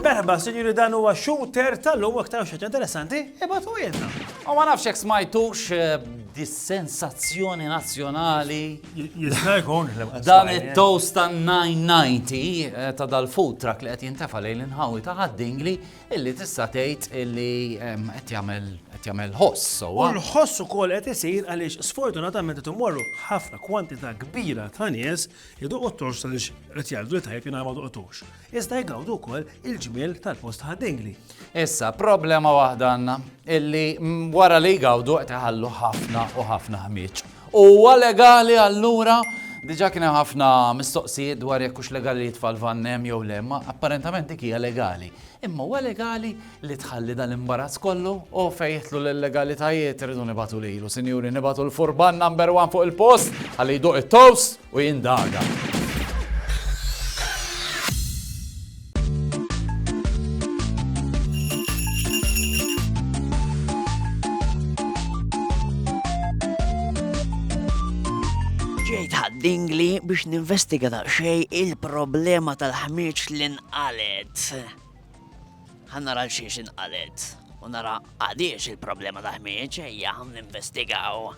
Merħba, sinjuri dan huwa shooter tal-lum aktar xaġa interessanti, ibatu jenna. U ma nafx jekk smajtux eh, dis-sensazzjoni nazzjonali. Jista' jkun Dan it-toast ta' 990 eh, ta' dal-food truck li qed jintefa' lejn l-inħawi ta' ħaddingli Illi tista' tgħid illi qed jagħmel qed jagħmel ħoss sewwa. U l-ħoss ukoll qed isir għaliex sfortunatament qed imorru ħafna kwantità kbira ta' nies iduqu t-torx għaliex qed jgħidu li tajjeb jingħamel duq torx. Iżda jgawdu wkoll il-ġmiel tal-post ħaddingli. Issa, problema waħda għandna illi wara li jgawdu qed iħallu ħafna u ħafna ħmieġ. Huwa legali allura? Diġà kien hemm ħafna mistoqsijiet dwar jekk hux legali li t-tfal f'van hemm jew le, imma apparentament dik hija legali. Imma huwa legali li tħalli dan l-imbarazz kollu? O fejn jidħlu l-illegalitajiet irridu nibagħtu lilu, sinjuri, nibagħtu l-furban number one fuq il-post ħalli jduq it-toast! u jindaga. dingli biex ninvestiga daqsxej il-problema tal-ħmieġ li nqalet. Ħa nara l-xiex inqalet u nara għaliex il-problema ta' ħmieġ ejja ħan investigaw.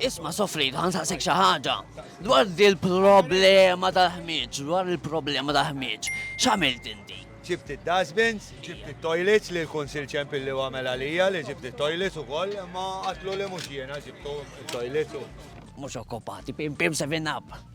Isma' sofri, ħan saqsek xi ħaġa dwar il-problema ta' ħmieġ, dwar il-problema ta' ħmieġ. X'għamilt inti? ġibt id-dustbins, ġibt it-toilets li l-Kunsil ċempil li għamel għalija li ġibt it-toilets u koll, ma għatlu li mux jena ġibtu it-toilets u. Mux okkupati, pim pim seven up.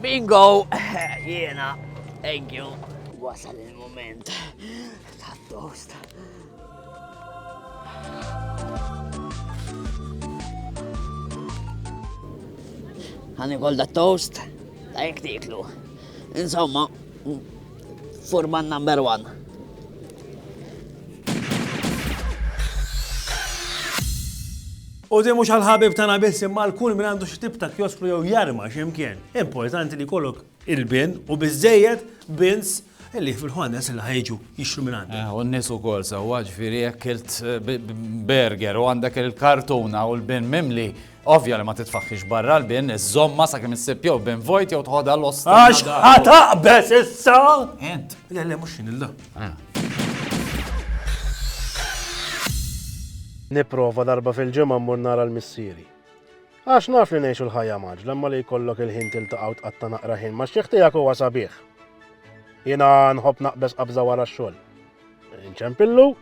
Bingo! Jiena, thank you. Wasal il-moment ta' toast. Għani kol da toast, da jek tiklu. Insomma, Furman number one. U di mhux għal-ħabib tagħna biss imma l kull minn għandu xi tip ta' kioskru jew jarma x'imkien. Importanti li kollok il-bin u biżejjed bins illi fil-ħones il ħajġu jixru minn għandu. Eh, u n-nis u kol sawa ġifiri jekkilt eh, berger u għandek il-kartuna u l-bin mimli Ovvja li ma titfaħħix barra l-bin, iżżommha sakemm issib jew bin vojt jew tħodha l-osta. Għax ħadd aqbeż issa! Ent. Le, le, mhux jien illa. Ah. Nipprova darba fil-ġimgħa mmur nara l-missieri. Għax naf li ngħixu l-ħajja maġ, lemma li jkollok il-ħin tiltaqgħu tqatta' naqra ħin ma' xieħ tiegħek huwa sabiħ. Jiena nħobb naqbeż qabża wara x-xogħol. Inċempillu?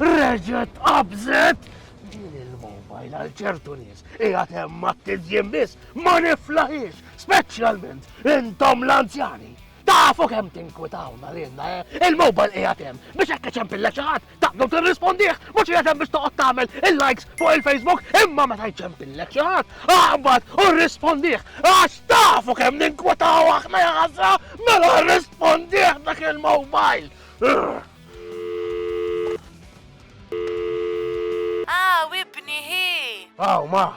Reġet qabżet din il-mobile għal ċertu nies. Ija temma t-tizjim biss, ma niflaħiex, Speċjalment intom l-anzjani. Tafu kemm tinkwitawna lilna, eh? Il-mobile qiegħed hemm biex hekk iċempillek xi ħadd taqdu tirrispondih, mhux qiegħed hemm biex toqgħod tagħmel il-likes fuq il-Facebook, imma meta jċempillek xi ħadd, aqbad u rrispondih għax tafu kemm ninkwitaw aħna jaħasra mela rrispondih dak il-mobile. Ah, wibni hi. Aw, ma,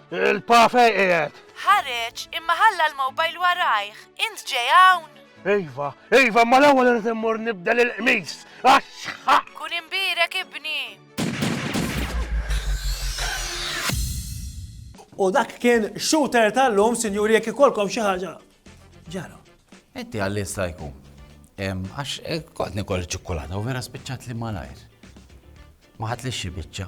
Il-pa fej qiegħed? Ħareġ, imma ħalla l-mowbajl warajh. Int ġej hawn? Iva, iva, ma l-ewwel irid immur nibdel il-qmis. Axħa! Kun imbirek ibni. U dak kien shooter tal-lum, sinjuri, jekk ikolkom xi ħaġa. Ġara. Inti għallin stajku. Għax eh, kont nikol ċikkulata u vera spiċċat li malajr. Ma ħatlix xi biċċa.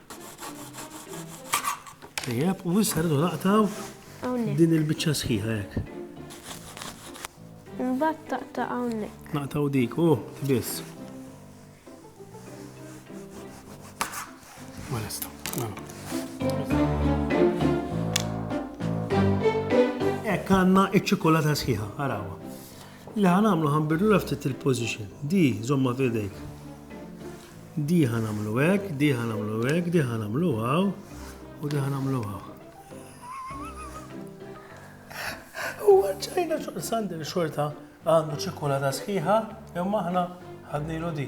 Tajjeb, u issa rridu naqtaw din il-biċċa sħiħa hekk. Imbagħad taqta' hawnhekk. Naqtaw dik, u oh, biss. Ma nista', Hekk għandna iċ-ċikolata sħiħa, arawa. Li ħanamlu ħanbirlu ftit il-position. Di, żomma f'idejk. Di ħa nagħmlu hekk, di ħa nagħmlu hekk, di ħa nagħmlu hawn u di ħa nagħmlu hawn. U għadċajna sandi li xorta għandu ċikulata sħiħa, imma aħna ħadnilu di.